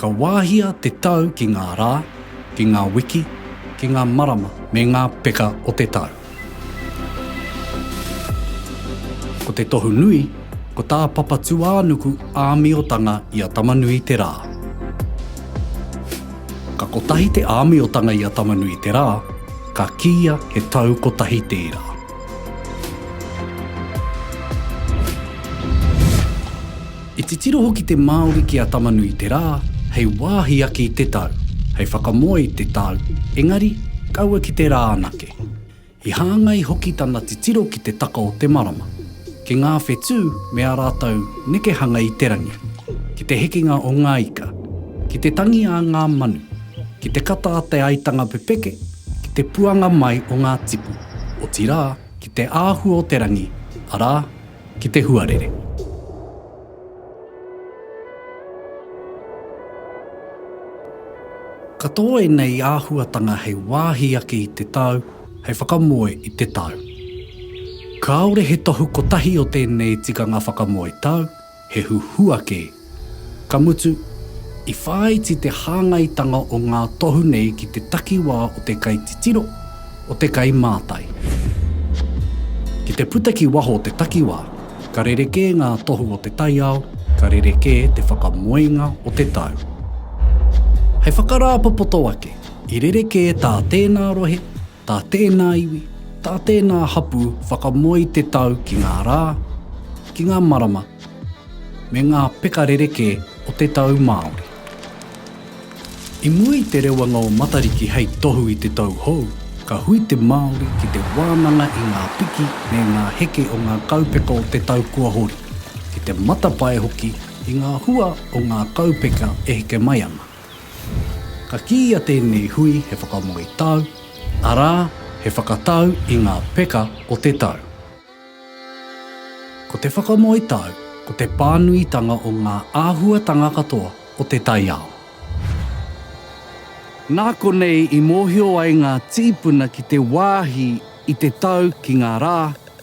Ka wāhia te tau ki ngā rā, ki ngā wiki, ki ngā marama me ngā peka o te tau. Ko te tohu nui, ko tā Papatūānuku āmiotanga i a Tamanui te rā. Ka kotahi te āmiotanga i a Tamanui te rā, ka kīia he tau kotahi tērā. I titiro hoki te Māori ki a Tama-nui-te-rā hei wāhi ake i te tau, hei whakamoe i te tau, engari, kaua ki te rā anake. I hāngai hoki tana titiro ki te taka o te marama, ki ngā whetū me ā rātou nekehanga i te rangi, ki te hekenga o ngā ika, ki te tangi a ngā manu, ki te kata a te aitanga pepeke, ki te puanga mai o ngā tipu. otirā, ki te āhua o te rangi, arā, ki te huarere. Katoa ēnei āhuatanga hei wāhi ake i te tau, hei whakamoe i te tau. Kāore he tohu kotahi o tēnei tikanga whakamoe tau, He huhua kē. Ka mutu, i whāiti te hāngaitanga o ngā tohu nei ki te takiwā o te kaititiro, o te kaimātai. Ki te puta ki waho o te takiwā, ka rerekē ngā tohu o te taiao, ka rerekē te whakamoenga o te tau. Hei whakarāpopoto ake, i rerekē tā tēnā rohe, Tā tēnā iwi, tā tēnā hapū whakamoe te tau ki ngā rā, ki ngā marama, me ngā peka rerekē o te tau Māori. I mua i te rewanga o Matariki hei tohu i te tau hou, ka hui te Māori ki te wānanga i ngā piki me ngā heke o ngā kaupeka o te tau kua hori, ki te matapae hoki i ngā hua o ngā kaupeka e heke mai ana. Ka kīia tēnei hui he whakamoe tau, arā, he whakatau i ngā peka o te tau. Ko te whakamoe tau, ko te pānuitanga o ngā āhuatanga katoa o te taiao. Nā konei i mōhio ai ngā tīpuna ki te wāhi i te tau ki ngā rā,